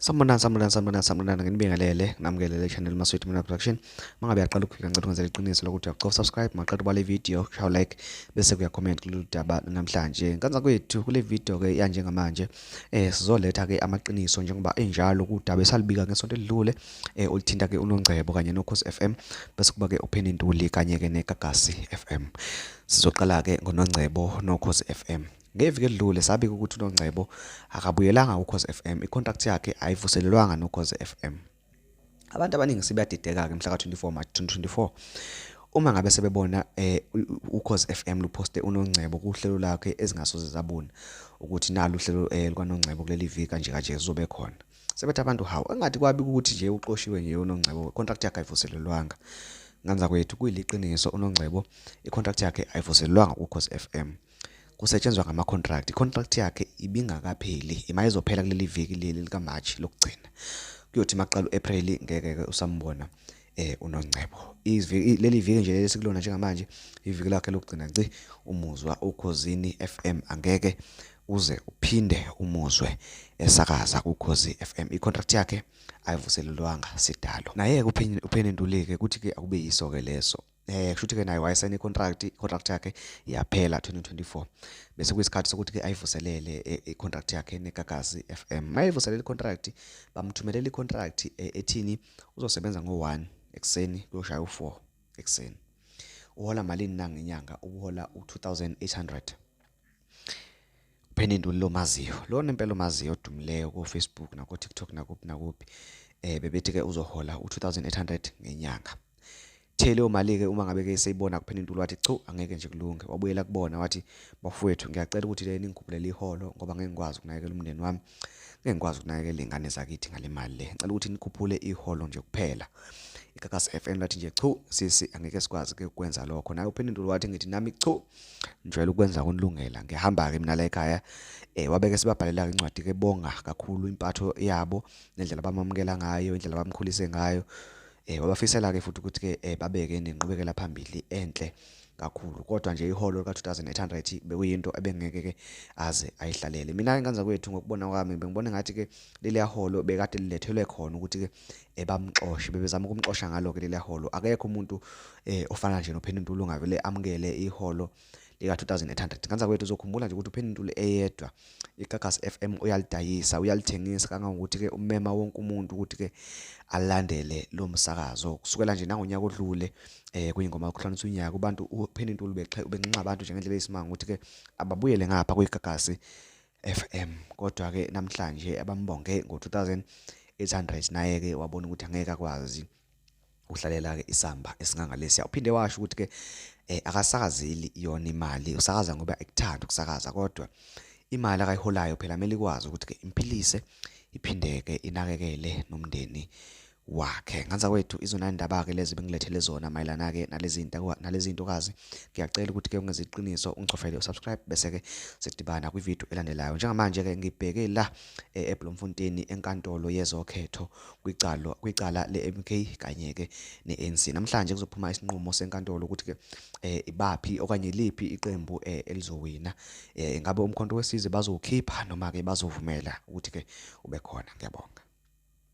Sanibonani sanibonani sanibonani sanibonani nginibingelele nginamkelele channel Maswethu Mina Production mangabe yaqala ukufika ngicela ukwenza iqiniso lokuthi uyaqofa subscribe maqala ubale video shaw like bese kuya comment kulolu daba namhlanje nkanza kwethu kule video ke yanje ngamanje eh sizoletha ke amaqiniso njengoba enjalo kudaba esalibika ngesonto elidlule eh olithinta ke unongcebo kanye nokhosi FM bese kuba ke upheni intuli kanye ke negagasi FM sizoqala ke ngonongcebo nokhosi FM Ngeviki edlule sabika ukuthi uNongcebo akabuyelanga kuKhozi FM, icontract yakhe ayivuselelwanga noKhozi FM. Abantu abaningi sebeyadideka-ke mhla ka-24 March 2024 uma ngabe sebebona eh uKhozi FM luposte uNongcebo kuhlelo lakhe ezingasoze zabona ukuthi nalo uhlelo eh, likaNongcebo kuleli viki kanje kanje kuzobe khona. Sebethi abantu hawu engathi kwabi ukuthi nje uqoshiwe nje uNongcebo contract yakhe ayivuselelwanga. Nganza kwethu kuyiliqiniso uNongcebo icontract yakhe ayivuselelwanga kuKhozi FM. kusetshenzwa ngama-contract i-contract yakhe ibingakapheli imayizophela kuleli viki leli likamarch lokugcina kuyothi maqala u-april ngeke-ke usambona eh unongcebo leli viki nje leli sikulona njengamanje iviki lakhe lokugcina nci umuzwa ukhozini FM angeke uze uphinde umuzwe esakaza kukhozi FM icontract yakhe ayivuselelwanga sidalo naye upheni ntuleke kuthi ke akube yiso ke leso eh kushuthi ke naye wayesayina icontract icontract yakhe yaphela 2024 bese kuyisikhathi sokuthi ke ayivuselele e, icontract yakhe neGagasi FM mayivuselele icontract bamthumelela icontract e, ethini uzosebenza ngo1 ekseni kuyoshaya u4 ekseni uhola malini nangenyanga ubuhola u2800 Pheninduli lomaziyo lona impela omaziyo odumileyo ku Facebook nako TikTok nakuphi nakuphi eh bebethi ke uzohola u2800 ngenyanga Thele omali ke uma ngabe ke seyibona kuphela intulu wathi chu angeke nje kulunge wabuyela kubona wathi bafowethu ngiyacela ukuthi le ningikhuphulele iholo ngoba ngeke ngikwazi ukunakekela umndeni wami ngeke ngikwazi ukunakekela izingane zakithi ngalemali le ngicela ukuthi nikhuphule iholo nje kuphela ikakasi FM lathi nje chu sisi angeke sikwazi ke ukwenza lokho naye uphendulo wathi ngithi nami chu njwela ukwenza kunilungela ngihamba ke mina la ekhaya eh wabeke sibabhalela incwadi ke bonga kakhulu impatho yabo nendlela bamamukela ngayo indlela bamkhulise ngayo Eh wabafisela ke futhi ukuthi ke eh, babeke nenqubekela phambili enhle kakhulu kodwa nje iholo lika 2800 bekuyinto ebengeke ke aze ayihlalele mina ke nganza kwethu ngokubona kwami bengibona ngathi ke leli holo bekade lilethelwe khona ukuthi ke ebamxoshe bebezama ukumxosha ngalo ke leli holo akekho umuntu eh ofana nje noPheni Ntulu ngavele amukele iholo lika-2800 nganzakwethu uzokhumbula nje ukuthi upheni intuli eyedwa igagasi f m uyalidayisa uyalithengisa kangangokuthi-ke umema wonke umuntu ukuthi-ke alandele lo msakazo kusukela nje nangonyaka odlule eh kuyingoma yokuhlonisa unyaka ubantu upheni intuli ubenxenxa abantu njengendlela eyisimanga ukuthi-ke ababuyele ngapha kuyigagasi f m kodwa-ke namhlanje abambonge ngo-2800 naye-ke wabona ukuthi angeke akwazi uhlalela ke isamba esingangalesiya uphinde washo ukuthi ke eh, akasakazeli yona imali usakaza ngoba ekuthanda ukusakaza kodwa imali akayiholayo phela kumele ikwazi ukuthi ke imphilise iphinde ke inakekele nomndeni wakhe nganza kwethu izona indaba ke lezi bengilethele zona mayelana ke nalezi zinto nalezi zintokazi ngiyacela ukuthi ke ungenze iqiniso ungicofele usubscribe bese ke sidibana kwi video elandelayo njengamanje ke ngibheke la eh, eBloemfontein enkantolo yezokhetho kwicala kwicala leMK kanye ke neANC namhlanje kuzophuma isinqumo senkantolo ukuthi ke eh, ibaphi okanye liphi iqembu eh, elizowina eh, ingabe umkhonto wesizwe bazowukhipha noma ke bazovumela ukuthi ke ube khona ngiyabonga